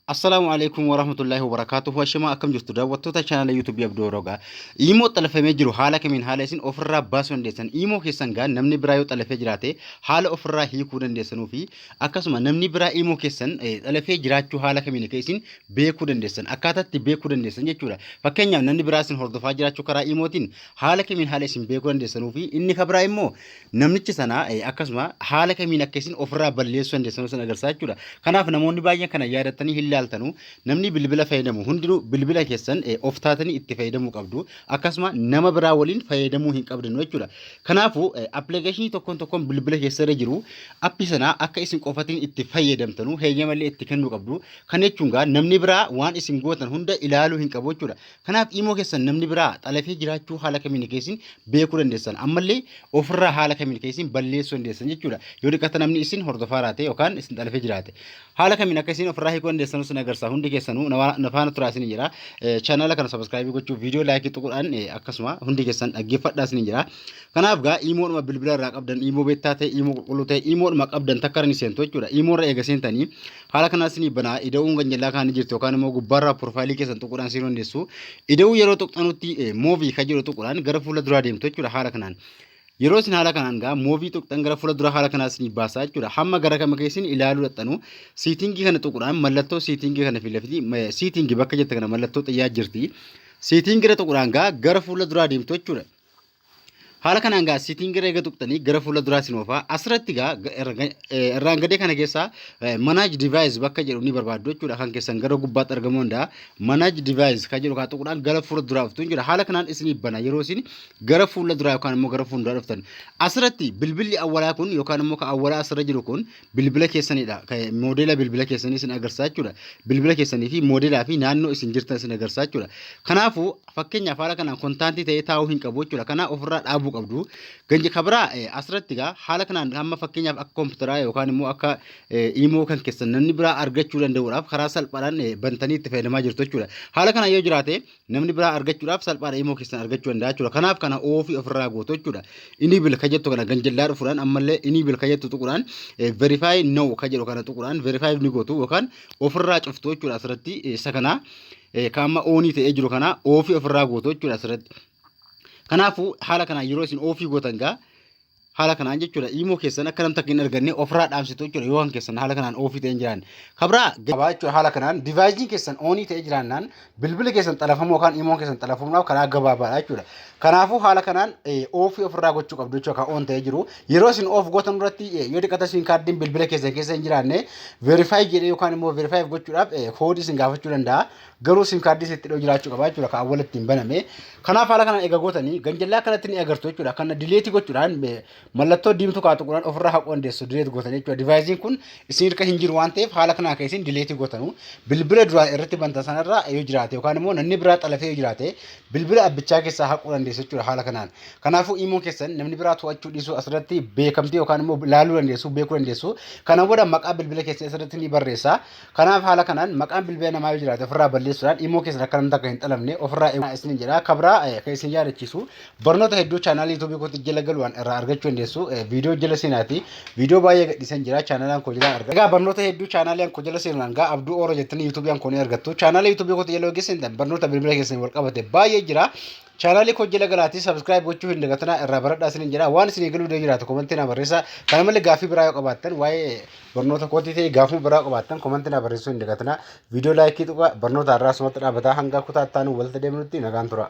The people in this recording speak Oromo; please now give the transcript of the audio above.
Assalaamu alaikum warahmatullahi wabarakatuh. Washimaa akkam jirtu daawwattoota chaanala YouTube Abdoo Rogaa. Imoo xalafamee jiru haala kamiin haala isin ofirraa baasuu dandeessan imoo keessan gaa namni biraa yoo xalafee jiraate haala ofirraa hiikuu dandeessanuu fi akkasuma namni biraa imoo keessan xalafee jiraachuu haala kamiin akka isin beekuu dandeessan akkaataatti beekuu dandeessan jechuudha. Fakkeenyaaf namni biraa isin hordofaa jiraachuu karaa imootiin haala kamiin haala isin beekuu dandeessanuu fi inni kabraa immoo namnicha sana eh, akkasuma haala kamiin akka isin ofirraa balleessuu dandeessan isin agarsiisa jechuudha. Kanaaf namoonni baay'een kana yaadatanii hin laaltanu namni bilbila fayyadamu hundinuu bilbila keessan eh, of taatanii itti fayyadamuu qabdu akkasuma nama biraa waliin fayyadamuu hin qabdanu jechuudha. Kanaafuu eh, appilikeeshinii tokkoon tokkoon bilbila keessa irra jiru appii sana akka isin qofatiin itti fayyadamtanu heeyyamallee itti kennuu qabdu. Kan jechuun gaa namni biraa waan isin gootan hunda ilaaluu hin qabu jechuudha. Kanaaf imoo keessan namni biraa xalafee jiraachuu haala kamiin keessin beekuu dandeessan ammallee ofirraa haala kamiin keessin balleessuu dandeessan jechuudha. Yoo dhiqata namni isin hordofaa raate yookaan isin xalafee jiraate haala kamiin akka isin ofirraa hiikuu dandeessan isin agarsiisa hundi keessanuu na faana turaa isin jira. Chaanaala kana sabiskiraayibii gochuu viidiyoo laayikii tuquudhaan akkasuma hundi keessan dhaggeeffadhaa isin jira. Kanaaf gaa imoodhuma bilbila irraa qabdan imoo beektaa ta'e imoo qulqulluu ta'e imoodhuma qabdan takka irra ni seentu jechuudha. Imoo irra eega seentanii Haala kanaan isinii banaa ida'uun kan jallaa kaanii jirtu yookaan immoo gubbaarraa piroofaayilii keessan tuquudhaan isin hundeessu. Ida'uu yeroo tuqxanutti moovii kan jedhu tuquudhaan gara fuula duraa deemtu jechuudha haala kanaan. Yeroo isin haala kanaan gaa moovii tuqxan gara fuula duraa haala kanaa isinii baasaa jechuudha. Hamma gara kama keessin ilaaluu dhaxxanu siitingii kana tuquudhaan mallattoo siitingii kana filafiti siitingii bakka jette kana mallattoo xiyyaa jirti. Siitingii irra tuquudhaan gaa gara fuula duraa deemtu jechuudha. Haala kanaan gaa sitiin gara eega tuqxanii gara fuula duraa isin oofaa. Asirratti gaa irraan gadee kana keessaa manage device bakka jedhu ni barbaaddu jechuudha. Kan keessan gara gubbaatti argamuu danda'a. Manage device kan jedhu kaa tuquudhaan gara fuula duraa dhuftu jechuudha. Haala kanaan isinii bana yeroo isin gara fuula duraa yookaan immoo gara fuula duraa dhuftan. Asirratti bilbilli awwalaa kun yookaan immoo kan awwalaa asirra jiru kun bilbila keessanidha. Moodela bilbila keessanii isin agarsiisa jechuudha. Bilbila keessanii fi moodelaa fi naannoo isin jirtan isin agarsiisa jechuudha. Kanaafuu fakkeenyaaf haala kanaan kontaantii ta'ee taa'uu hin qabu jechuudha. Kanaa ofirraa dhaabuu qabdu. Ganji kabiraa asirratti egaa haala kanaan hamma fakkeenyaaf akka kompiitaraa yookaan immoo akka imoo kan keessan namni biraa argachuu danda'uudhaaf karaa salphaadhaan bantanii itti fayyadamaa jirtu jechuudha. Haala kanaan yoo jiraate namni biraa argachuudhaaf salphaadha imoo keessan argachuu danda'a jechuudha. Kanaaf kana oofii ofirraa gootu jechuudha. Inii bil kan jettu kana ganjallaa dhufuudhaan ammallee inii bil kan jettu tuquudhaan verify no kan jedhu kana tuquudhaan verify ni gootu yookaan ofirraa cuftu jechuudha asirratti isa kana kan amma oonii ta'ee jiru kana oofii ofirraa gootu jechuudha asirratti. Kanaafuu haala kanaan yeroo isin oofii gootan gaa haala kanaan jechuudha imoo keessan akka namni takka hin arganne ofirraa dhaamsitu jechuudha yoo kan keessan haala kanaan oofii ta'ee hin jiraanne. Kabraa gabaa jechuudha haala kanaan divaayiziin keessan oonii ta'ee jiraannaan bilbila keessan xalafamuu yookaan imoon keessan xalafamuudhaaf karaa gabaabaadha jechuudha. Kanaafuu haala kanaan oofii ofirraa gochuu qabdu jechuudha kan oon ta'ee jiru. Yeroo isin oof gootan irratti yoo xiqqaate isin kaardiin bilbila keessan keessa hin jiraanne veerifaayi jedhee yookaan immoo veerifaayi gochuudhaaf koodii isin gaafachuu danda'a. Garuu sim kaardii sitti dhiyoo jiraachuu qaba jechuudha kan awwala ittiin baname. Kanaaf haala kanaan egaa gootanii ganjallaa akkanatti ni agartu jechuudha. Kana dileetii gochuudhaan eh, mallattoo diimtuu kaatu quran ofirraa haquu dandeessu dileet gootanii jechuudha. Divaayiziin kun isin irka hin jiru waan ta'eef haala kanaan kan isin dileetii gootanu. Bilbila duraan irratti bantan sanarraa yoo jiraate yookaan immoo namni biraa xalafee yoo jiraate bilbila abbichaa keessaa haquu dandeessu jechuudha haala kanaan. Kanaafuu iimoon keessan namni biraa to'achuu dhiisuu asirratti beekamtii yookaan immoo ilaaluu dandeessu beekuu dandeessu. Kana booda maqaa bilbila keessan asirratti ni barreessa. Kanaaf haala kanaan maqaan bilbila namaa yoo jiraate ofirraa balleessuudhaan imoo keessan akka namni takka hin xalamne ofirraa eegaa isiniin jedha. Kabraa kan isin yaadachiisu barnoota hedduu chaanaala yuutuubii kootti jala galuudhaan irraa argachuu dandeessu. Viidiyoo jala seenaati. Viidiyoo baay'ee gadhiisan jira chaanaalaan koo jala argatu. Egaa barnoota hedduu chaanaalaan koo jala seenuudhaan gaa abduu oora jettanii yuutuubiin koo ni argattu. Chaanaala yuutuubii kootti jala yoo geessan barnoota bilbila keessan wal qabate baay'ee jira. Chaanaalii koo jala galaatii subscribe gochuu hin dagatinaa irraa baradhaa isiniin jedha waan isinii galuu dee jiraatu komantii naa barreessaa kana malee gaaffii biraa yoo qabaattan waa'ee barnoota kootii ta'e gaafuma biraa qabaattan komantii naa barreessuu hin dagatinaa viidiyoo laayikii tuqaa barnoota har'aa asumatti dhaabataa hanga kutaa itti aanu walitti deemnutti nagaan turaa.